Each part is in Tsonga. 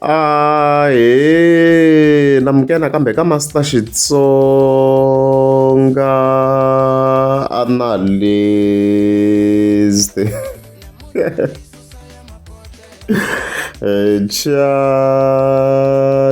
a he na muke nakambe ka master xitsonga analyst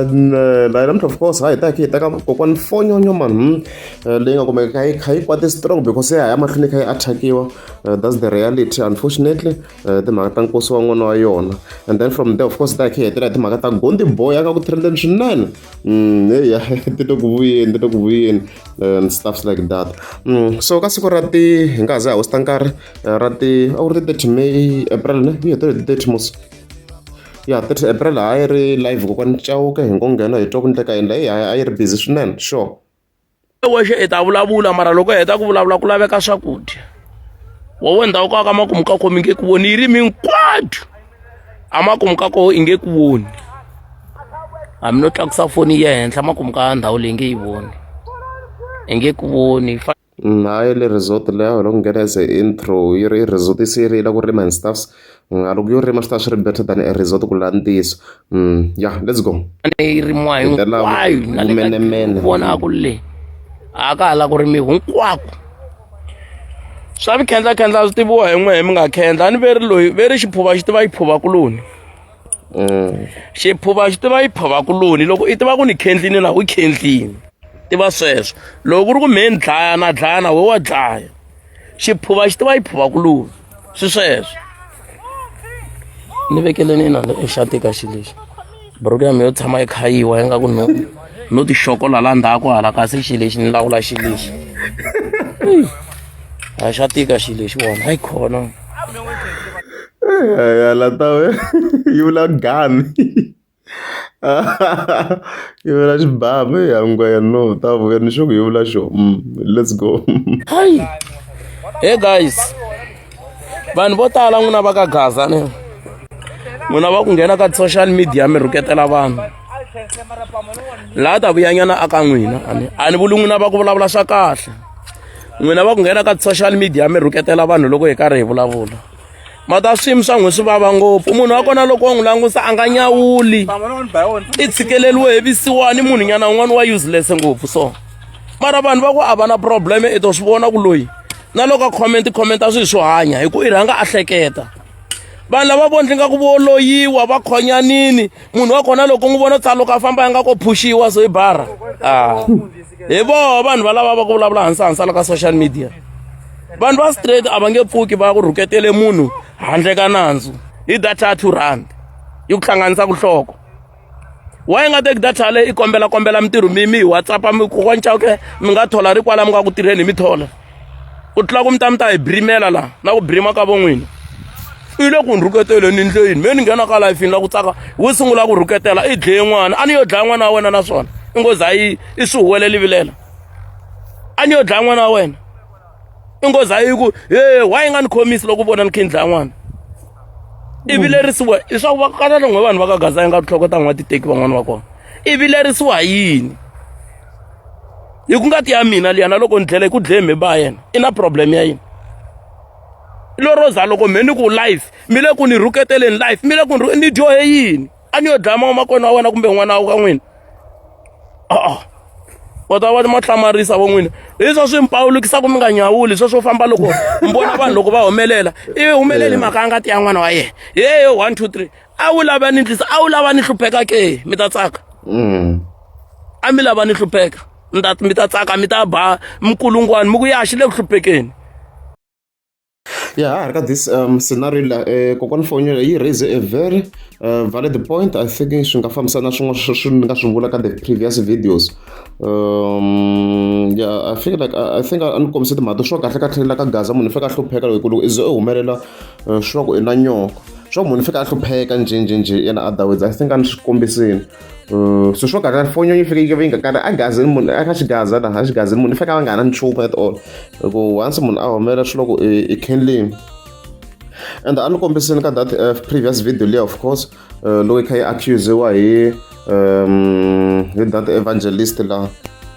channel i don't of course hi ta ki ta ka kokwana fonyonyo man leyi nga kumeka kha yi kha yi kwate strong because ya ha ya mahlweni kha yi attackiwa uh, that's the reality unfortunately uh, timhaka ta nkosi wa n'wana wa yona and then from there of course ta khe hetela timhaka ta gondi boy aka ku trendeni swinene mm, eya ti to ku vuyeni ti to ku vuyeni and stuffs like that mm, so ka siku ra ti hi nga ha za hi hosta nkarhi uh, ra ti a ku ri ti 30 may april ne yi hetele ti 30 mos ya 30 april a yi ri live kokwani cawuke hi ngo nghena hi twa ku ndleka endla yi a yi ri busy swinene sure wexe i ta vulavula mara loko hi heta ku vulavula ku laveka swakudya wowe ndhawu ka ka makumu ka komi nge ku voni yi ri minkwadu a makumu ka koho i nge ku voni hambi no tlakusa foni ya henhla makumu ka ndhawu leyi nge yi voni i nge ku voni nayo le resort leyo loko nghena as intro yi ri resort se yi rila ku rima and stuffs Ngaluku yo rima swi ta swi ri better than a resort ku laha ntiyiso mm, ya let's go leyi rimiwa hinkwayo na le vonaku le a ka hala ku rimiwa hinkwako swa vikhendlakhendla swi tiviwa hi n'we hi mi nga khendla a ni ve ri loyi ve ri xiphuva xi tiva yi phuva kuloni mm. xiphuva xi tiva yi phuva kuloni loko i tiva ku ni khendlini na u khendlini tiva sweswo loko ku ri ku mhe ni dlaya na dlaya na we wa dlaya xiphuva xi tiva yi phuva ku lula swi sweswo ni vekeleni ina ni exati ka xi lexi buruku ya mi yo tshama yi khayiwa yi nga ku no no tixokola la ndzhaku hala kasi xi lexi ni lawula xi lexi a xa tika xi lexi wona hayi khona ya latawe yi vula gani yevula xibamu ya ngwenya no ta vuya ni xo ku yevula xo mm, let's go hi hey guys vanhu vo tala n'wina va ka gaza ni n'wina va ku nghena ka social media mi rhuketela vanhu laha ta vuyanyana aka n'wina ani a ni vuli n'wina va ku vulavula swa kahle n'wina va ku nghena ka social media mi rhuketela vanhu loko hi karhi hi vulavula mata swiyimi swa n'wi swi vava ngopfu munhu wa kona loko wa n'wi langusa a nga nyawuli i tshikeleriwe hi visiwani munhu nyana un'wana wa useless ngopfu so mara vanhu va ku a va na problem i to swi vona ku loyi na loko a comment comment a swi swo hanya hi ku i rhanga a hleketa vanhu lava vondli nga ku voloyiwa va khonyanini munhu wa kona loko n'wi vona tsa loko a famba ya nga ko phuxiwa so hi bara a ah. hi voho vanhu valava va ku vulavula hansi hansi la ka social media vanhu va straight a va nge pfuki va ku rhuketele munhu handle ka nandzu hi data ya two rand yi ku hlanganisa kuhloko wa yi nga teki data yaleyo i kombela kombela mintirho mi mi hi whatsappa mi kokwanca ke mi nga thola ri kwala mi nga ku tirheni hi mi thola ku tlula ku mi ta mi ta hi brimela laha na ku brima ka von'wini i le ku ni rhuketeleni ndleyini me ni nghena ka lifini la ku tsaka wu sungula ku rhuketela i dleye n'wana a ni yo dlaya n'wana wa wena naswona i ngozi a yi i swi huweleli vilela a ni yo dlaya n'wana wa wena i nghozi a yi ku e wa yi nga ni khomisi loko u vona ni khindla n'wana i mm. vilerisiwa leswaku va kala longwe vanhu va ka gaza yi nga tihloko ta n'wa titeki van'wani va kona i vilerisiwa hi yini hi ku ngati ya mina liyana loko ni dlela hi ku dleye mhe ba yena i na problem ya yini loroza loko mhe ni ku life mi le ku ni rhuketeleni life mi le ku ni dyohe yini a ni yo dlaya mamakwerhu wa wena kumbe n'wana wa ka n'wina a-a u ta va ni mo hlamarisa vo n'wina leswa swi mi pawulukisaka mi nga nyawuli sweswo famba loko mi vona vanhu loko va humelela ivi humeleli mhaka ya ngati ya n'wana wa yena yeyo one two three a wu lava ni ndlisa a wu lava ni hlupheka ke mi ta tsaka Mm. a mi lava ni hlupheka mi ta mi ta tsaka mi ta ba mikulungwani mi ku ya xi le ku hluphekeni Ya ha ri ka this scenario leyi kokwana foni yeleyo yi raise a very valid point I think swi nga fambisana na swin'wana swi ni nga swi vula ka the previous videos ya I feel like I think a ni kombise timhaka to swa kahle kahle la ka gaza munhu i faneke a hlupheka loko loko i ze i humelela swi va ku i na nyonga swa ku munhu i faneke a hlupheka njhenjhenjhe yena otherwise I think a ni swi kombisile. Mm, so swo karhi fonyo yi fike yi va yi nga karhi a gazini munhu a ka xigaza na a xigazini munhu i fake a va nga ha na nchumu at all hi ku once munhu a humelela swi loko i candlini and a ni kombisini ka that uh, previous video leyi of course uh, loko yi kha yi accusiwa hi um hi that evangelist la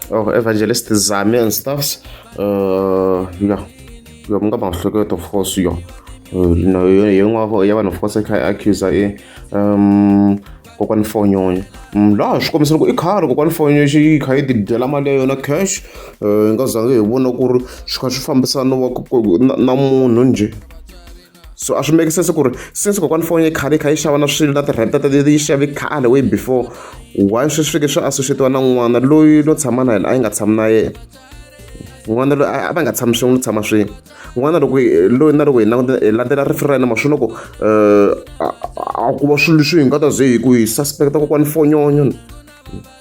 or oh, evangelist zame and stuffs uh, yeah yo mi nga ma hleketo of course yo uh, no, yo yin'wana ya vanhu of course yi kha yi accusa i um kokwani fonyonyo mm, laha swi kombisa loko i khale kokwani fonyonyo xi yi kha yi ti dyela mali ya yona cash um eh, nga zange hi vona ku ri swi kha swi fambisana na munhu njhe so a swi make sense ku ri since kokwani foni yi khale yi kha yi xava na swilo na ti-rent ta yi xave khale way before why swi swi fike swi associatiwa na n'wana loyi no tshama na yena a yi nga tshami na yena n'wana loyi a va nga tshami swin'we no tshama swin'we n'wana loko loyi na loko hi languta hi landzela rifu ra yena ma swi loko um a ku va swilo leswi hi nga ta ze hi ku hi suspect-a kokwani fonyonyo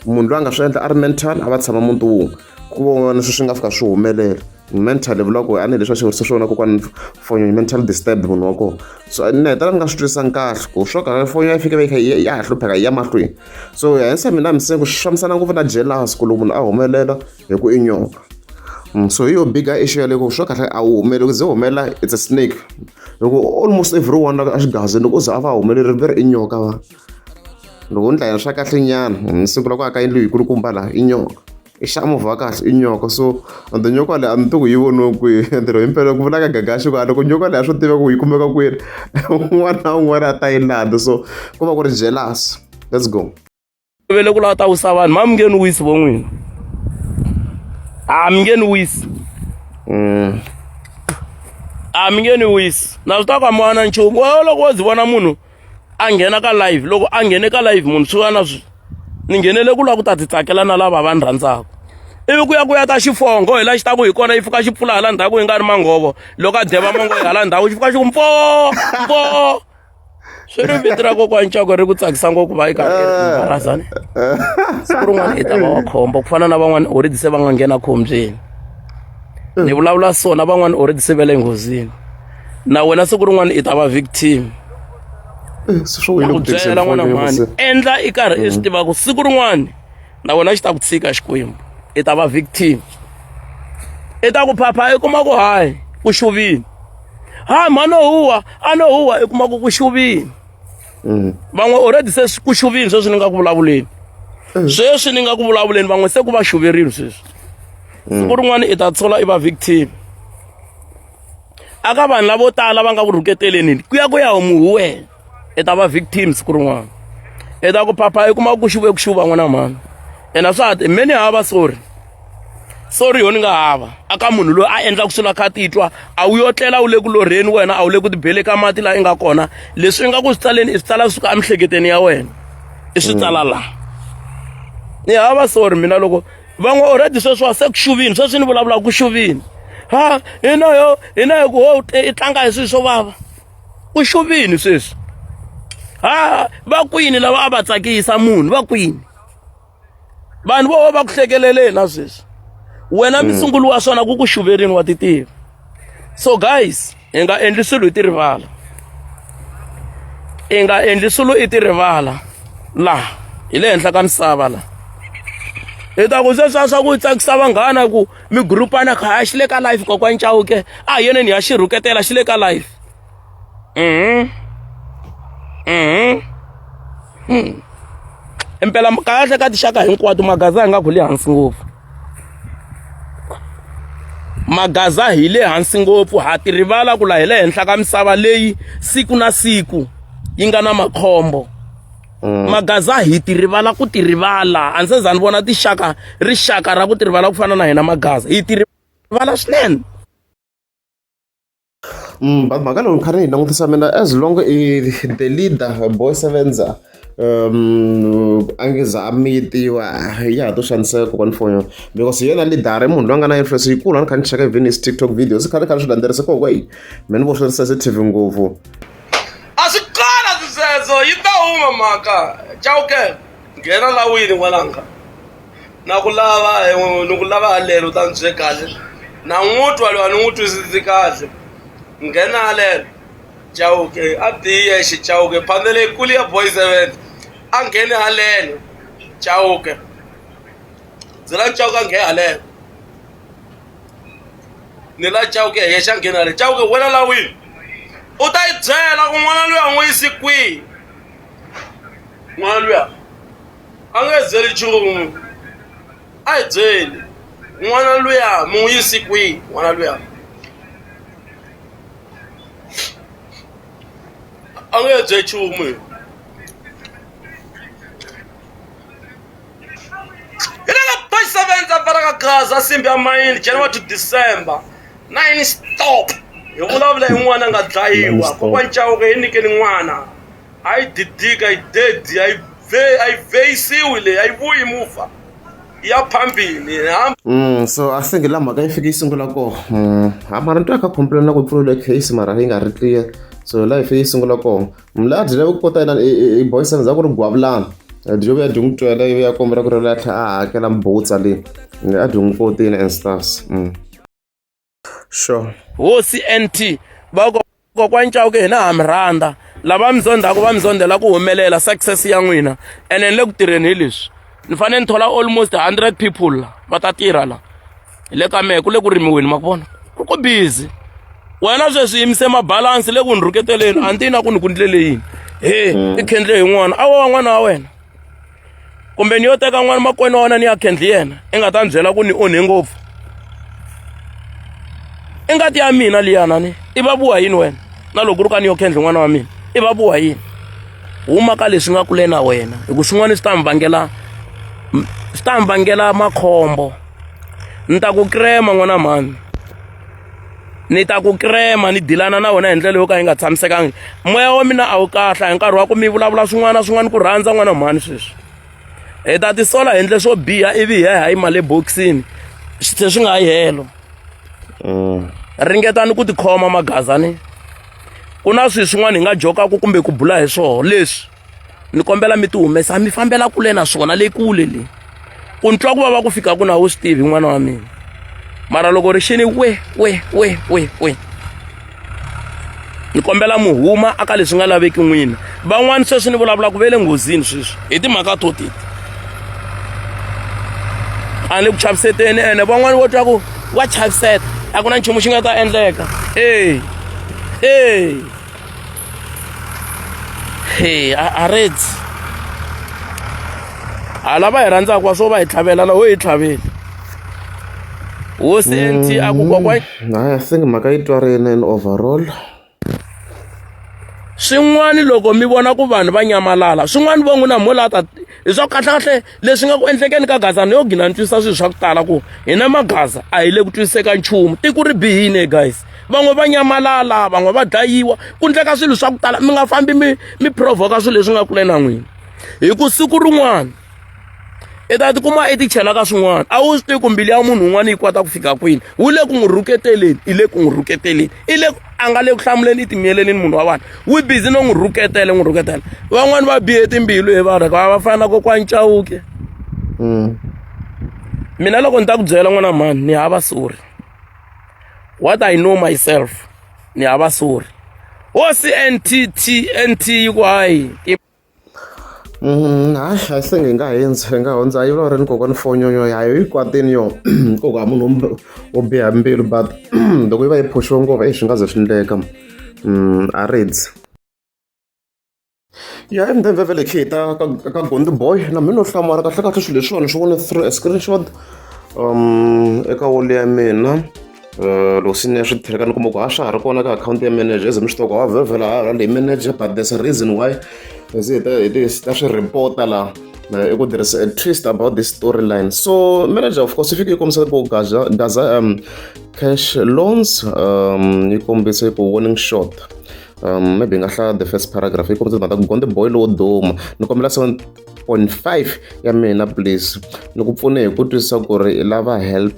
munhu loyi a nga swi endla a ri mental a va tshama muti wun'we ku vona sweswi nga fika swi humelela mental vula ku a ni leswi a xi vurisa swona kokwani fonyo yi mental disturb munhu wa kona so ni hetela ni nga swi twisisanga kahle ku swo ka fonyo ya fike va yi ya ha hlupheka yi ya mahlweni so hensa mina mi se ku swi fambisana ngopfu na jealous ku loko munhu a humelela hi ku i nyoka mm, so hi yo bigger issue yaleko swa kahle a wu humeli ku ze humela it's a snake loko almost everyone la a xigazini loko u ze a va humeleri ve ri i nyoka va loko ni dlayela swa kahle nyana ni sungula ku aka yindlu yikulukumba laha i nyoka i xamovha kahle i nyoka so and the nyoka leyi a ni tiku yi voniwe kwihi ntirho himpela ku vulaka gagaxi ku a loko nyoka leyi a swi tiva ku yi kumeka kwini un'wana na un'wana a ta yi landza so ku va ku ri jealous let's go vele ku lava ta wisa vanhu ma mi nge ni wisi vo n'wina a mi nge ni wisi mm. a mi nge ni wisi na swi ta ku a mi wana nchumu wo loko wo zi vona munhu a nghena ka live loko a nghene ka live munhu swi va na swi ni nghenele ku lava ku ta ti tsakela na lava va ni rhandzaka ivi ku ya ku ya ta xifongo hi la xi ta ku hi kona yi fika xi pfula hala ndhaku yi nga ri manghovo loko a deva mango yi hala ndhaku xi fika xi ku mpo mpo swi ri vito ra kokwani cako ri ku tsakisa ngopfu va yi karhibarazani siku rin'wana i ta va wa khombo ku fana na van'wana already se va nga nghena khombyeni ni vulavula so na van'wana already se va le nghozini na wena siku rin'wana i ta va victim eh, ku byela n'wana mhani endla i karhi i swi tiva ku siku rin'wana na wena xi ta ku tshika xikwembu i ta va victim i ta ku phapha i kuma ku hayi ku xuvini hayi mhano huwa a no huwa i kuma ku ku xuvini mm. van'we already se ku xuvini sweswi ni nga ku vulavuleni mm. sweswi ni nga ku vulavuleni van'we se ku va xuverile sweswi mm. siku rin'wana i ta tshola i va victim aka vanhu lavo tala va nga ku rhuketeleni ku ya ku ya homu hi wena i ta va victim siku rin'wana i ta ku phapha i kuma ku xuve ku xuva n'wana mhani ena swa ti me ni hava sorry sorry yo ni nga hava aka munhu loyi a endlaka swilo a kha a titwa a wu yo tlela wu le ku lorheni wena a wu le ku tibele ka mati laha i nga kona leswi i nga ku swi tsaleni i swi tsala suka emihleketeni ya wena i swi tsala mm. laha ni hava sorry mina loko van'we already sweswiwa se ku xuvini sweswi ni vulavulaka ku xuvini ha hina yo hina yo ku ho i tlanga hi swilo swo vava u xuvini sweswi ha va kwini lava a va tsakisa munhu va kwini vanhu vo va ku hlekeleleni na sweswi wena mm. misungulu wa swona ku ku xuverini wa titiva so guys hi nga endli swilo hi ti rivala i nga endli swilo i ti rivala laha hi le henhla ka misava laha hi ta ku sweswiwa swa ku tsakisa vanghana ku migurupana kha a xi le ka life kokwani chauke a hi yoneni ha xi rhuketela xi le ka life mhm mhm hmm. impela kahle ka tixaka hinkwato magaza hi nga ku le hansi ngopfu magaza hi le hansi ngopfu ha ti rivala ku la hi le henhla ka misava leyi siku na siku yi nga na makhombo mm. magaza hi ti rivala ku ti rivala a ndzi za ni vona tixaka rixaka ra ku ti rivala ku fana na hina magaza hi ti rivala swinene mm, mhaka lowu kha ni yi langutisa mina as long i the leader boy sevenza um angiza a miyitiwa ya ha to xaniseka kokwana fonyo because hi yena lidara i munhu loyi a nga na influence yikulu a ni kha ni cheka even his tiktok videos i khale khale swi landzeriseka hi mina vo swi ri sensitive ngopfu a swi kona swisweswo yi ta huma mhaka chauke nghena lawini n'wananga na ku lava eh, ni ku lava halelo u ta ni bye kahle na n'wu twa loyi a ni n'wi twisisi kahle nghena halelo chauke a biye xi chauke phandele kuli ya boy seven a ngheni halelo chauke byela chauke a nghena halelo ni la chauke ya xa nghena le chauke wena la wini u ta yi byela ku n'wana luya n'wi yisi kwihi n'wana luya a nge byeli nchumu a hi byeli n'wana luya mi n'wi yisi kwihi n'wana luya a nge bye nchumu Hi le ka page 7 ta pfala ka gaza simbi ya mayini January to December 9 stop hi vulavula hi n'wana nga dlayiwa kokwa ncawuke yi nyikeni n'wana a yi didika yi dedi a yi a yi vheyisiwi leyi a yi vuyi muva ya phambini hamba mm, so a singi la mhaka yi fike yi sungula koho mm, mara ni twa kha complain na ku pfuriwile case mara yi nga ri clear so life yi sungula kona mla dile ku kota yena i boyisana za ku ri gwavulana dyo vuya dyi n'wi twela ivi ya kombela ku ri la tlhe a hakela mbutsa leyi a dyi n'wi kotini and stars mm. sure hosi nt vakokwani cawuke hina ha mi rhandza lava mi zondzaka va mi zondzela ku humelela success ya n'wina ene ni le ku tirheni hi leswi ni fanele ni thola almost hundred people la va ta tirha la hi le ka mehe ku le ku rimiweni ma ku vona ku ku busy wena sweswi yimise mabalansi le ku ni rhuketeleni a ni tiyi na ku ni ku ndlele yini he mm. i khendle hi n'wana a wa n'wana wa wena kumbe ni yo teka n'wana makwenu wa wena ni ya khendli yena i nga ta ni byela ku ni onhe ngopfu i ngati ya mina liyana ni i va vuwa yini wena na loko ri ka ni yo khendli n'wana wa mina i va vuwa yini huma ka leswi nga kule na wena hi ku swin'wana swi ta mi vangela swi ta mi vangela makhombo ni ta ku krema n'wana mhani ni ta ku krema ni dilana na wena hi ndlela yo ka yi nga tshamisekangi moya wa mina a wu kahle hi nkarhi wa ku mi vulavula swin'wana na swin'wana ku rhandza n'wana mhani sweswi hi ta tisola hi endle swo biha ivi hi ya hi yima le bokisini se swi nga yi helo mm. ringetani ku tikhoma magazani ku na swilo swin'wana hi nga jokaku kumbe ku bula hi swona leswi ni kombela mi ti humesa mi fambela kule na swona le kule le ku ni twa ku vava ku fika ku na wu swi tivi n'wana wa mina mara loko ri xini we we we we we ni kombela mu huma aka leswi nga laveki n'wina van'wani sweswi ni vulavulaka ve le nghozini sweswi hi timhaka to titi a ni ku chaviseteni ene van'wani vo twa ku wa chaviseta a ku na nchumu xi nga ta endleka e e hey a a redzi a lava hi rhandzaka wa swo va hi tlhavela la wo hi tlhaveli hosi nt a ku kokwa Mm, hayi i think mhaka yi twarini in overall swin'wana loko mi vona ku vanhu va nyamalala swin'wana va n'wi na mhula ta hi swa kahlekahle leswi nga ku endlekeni ka gaza ni yo gina ni twisisa swilo swa ku tala ku hina magaza a hi le ku twisiseka nchumu tiko ri bihile guys van'we va nyamalala van'we va dlayiwa ku ndleka swilo swa ku tala mi nga fambi mi mi provoka swilo leswi nga kule na n'wina hi ku siku rin'wana i ta tikuma i ti chela ka swin'wana a wu swi tivi ku mbilu ya munhu un'wana yi kota ku fika kwini wu le ku n'wi rhuketeleni i le ku n'wi rhuketeleni i le a nga le ku hlamuleni i timiyelelini munhu wa vanhu wi busy no n'wi rhuketela n'wi rhuketela van'wani va bihe timbilu hi vanhu va va fana na kokwani chawuke mm. mina loko ni ta ku byela n'wana mhani ni hava sorry what i know myself ni hava sorry wo cntt nt yi ku hayi hayi a se ngi nga hundzi hi nga hundza yi vulavula ni kokwani fonyo ya yi kwatile yona ku hava munhu wo wo biha mbilu but loko yi va yi phush-iwe ngopfu exi nga ze swi endleka a reads ya i mdemve vele khe ta ka ka gondi boy na mina no hlamala kahlekahle swilo leswiwani swi vone through a screenshot um eka wall ya mina Eh, loko swi ne swi tlhela ka ni kuma ku ha swa ha ri kona ka akhawunti ya manager ze mi swi toko ha vhevhela ha le manager but there's a reason why ze hi ta hi ti ta swi report-a laha eh, i ku tirhisa a twist about this storyline so manager of course yi fike yi kombisa ku gaza gaza um cash loans um yi kombise ku warning shot um maybe hi nga hlaya the first paragraph yi kombisa timhaka ta ku gonde boy lowo duma ni kombela 7.5 ya mina please ni ku pfune hi ku twisisa ku ri i lava help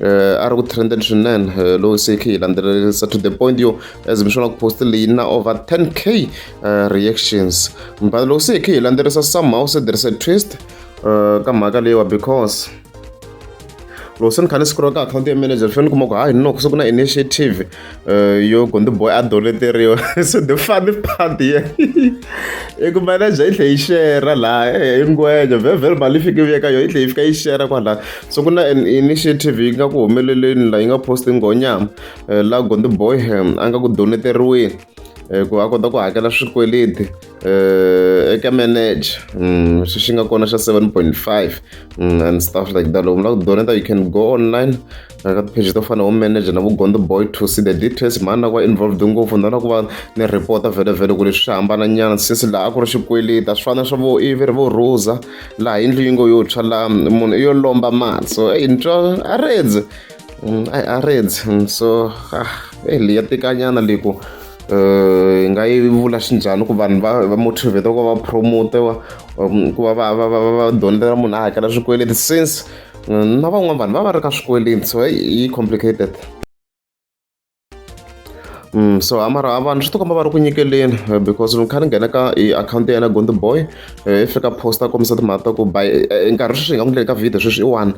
a ri ku trendeni swinene lowu se khe yi landzelerisa to the point yo as mi swona ku post leyi na over 10 k reactions mbala loko se khe yi landzelerisa somehow se there is a twist ka mhaka leyiwa because loko se ni kha ni scroll ka akhawunti ya manager ni fanele ni kuma ku hayi noko se ku na initiative yo go ndzi boy a doleteriwa so the funny part ye i ku manager yi tlhe yi shera laha eh, i ngwejo vhevhele mali yi fike yi veka yo yi tlhe yi fika yi shera kwalaha so ku na an initiative yi nga ku humeleleni laha yi nga posti ngonyama eh, laha gonde boy a nga ku doneteriweni eh, ku a kota ku hakela swikweleti uh, eka manage mm, xi xi nga kona xa 7.5 mm, and stuff like that loko mi lava ku donata you can go online ka tipage to fana home manager na vugondo boy to see the details mhani na ku va involved ngopfu ndona ku va ni report vhele vhele ku leswi swi hambana nyana since laha ku ri xikweleti a swi fana swa vo ivi ri vo rhuza laha yindlu yi ngo yo tshwa laha munhu i yo lomba mali so eyi ni twa a redze mm, i arreds mm, so ah, eh, leyi ya tikanyana leyi ku hi eh, nga yi vula xinjhani ku vanhu va va motivate ku va promotewa um, ku va va va va va dondela munhu a hakela swikweleti since mm, na van'wana vanhu va va ri ka swikweleti so yi complicated Mm, so a mara vanhu swi tikomba va ri ku nyikeleni eh, because ni kha ni nghena ka i akhawunti ya yena gondo boy eh, i fika posta kombisa timhaka ta ku by eh, nkarhi sweswi hi nga ku ndleli ka video sweswi i one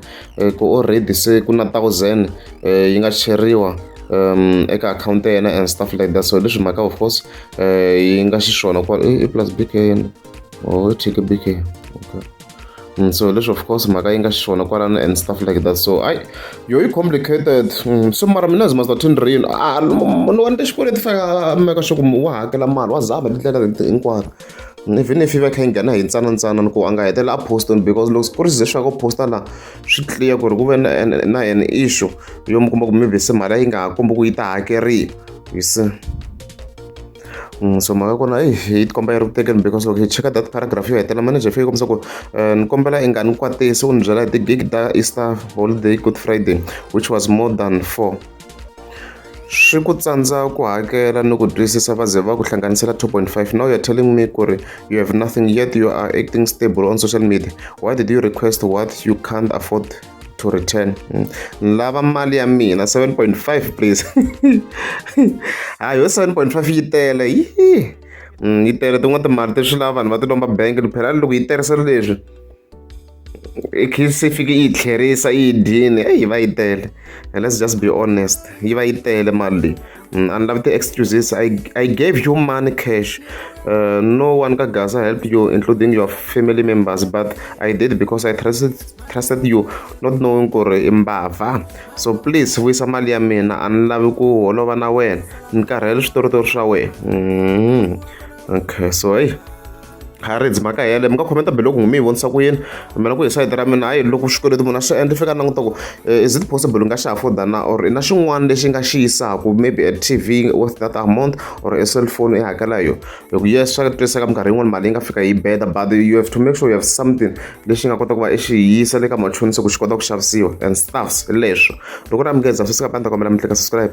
ku already se ku na thousand yi nga cheriwa um eka akhawunti ya yena and stuff like that so leswi mhaka of course yi nga xiswona ku i plus bk yena or oh, i bk okay Mm, so leswi of course mhaka yi nga xiswona kwalano and stuff like that so ai yo yi complicated mm, so mara mina zima zatin real ah, munhu wani tixikweleti faka meka swa ku wa hakela mali wa zama tindlela leti hinkwato mm, even if yi va kha yi nghena hi ntsanantsana ku a nga hetela a poston because loko ku ri ze swa ku posta la swi clear ku ri ku ve na an issue yo mi kuma ku maybe se mali yi nga ha kombi ku yi ta hakeriwa you see so mhaka ya kona yi tikomba yi ri ku tekeni because loko hi cheka data paragraph yo hetelela manager fike kombisa ku eh, ni kombela i nga ni kwatisi u ni byela hi ti-gig ta easter holiday good friday which was more than four swi ku tsandza ku hakela ni ku twisisa va ze va ku hlanganisela 2.5 now you're telling me ku ri you have nothing yet you are acting stable on social media why did you request what you can't afford to return mm. lava mali ya mina 7.5 please hayi yo 7.5 yi tele yi mm, yi tele tin'wana timali ti swi lava vanhu va ti lomba bank ni phela loko yi tirhisa leswi se fike yi tlherisa yi dyini eyi va yi tele let's just be honest yi va yi tele mali leyi Mm, and love the excuses i i gave you money cash uh, no one ka gaza helped you including your family members but i did because i trusted trusted you not knowing ku ri imbava so please vuyisa mali ya mina a ni lavi ku holova na wena ni karhele switoritori swa wena mm. okay so hey Harrids mhaka yale mi nga khomenta biloko n'wi mi yi vonisa ku yini mina ku hi sayiti ra mina hayi loko xikweleti munhu a swi endla fika languta ku eh, is it possible nga xi afforda na or i na xin'wana lexi nga xi yisaka maybe a t v worth that amount or a cell phone i hakela hi yona hi ku yes swa twiseka minkarhi yin'wana mali yi nga fika yi beda but you have to make sure you have something lexi nga kota ku va i xi yisa le ka machonisa ku xi kota ku xavisiwa and stuffs leswo loko ri amukeza swi sika panda kombela mi tleka subscribe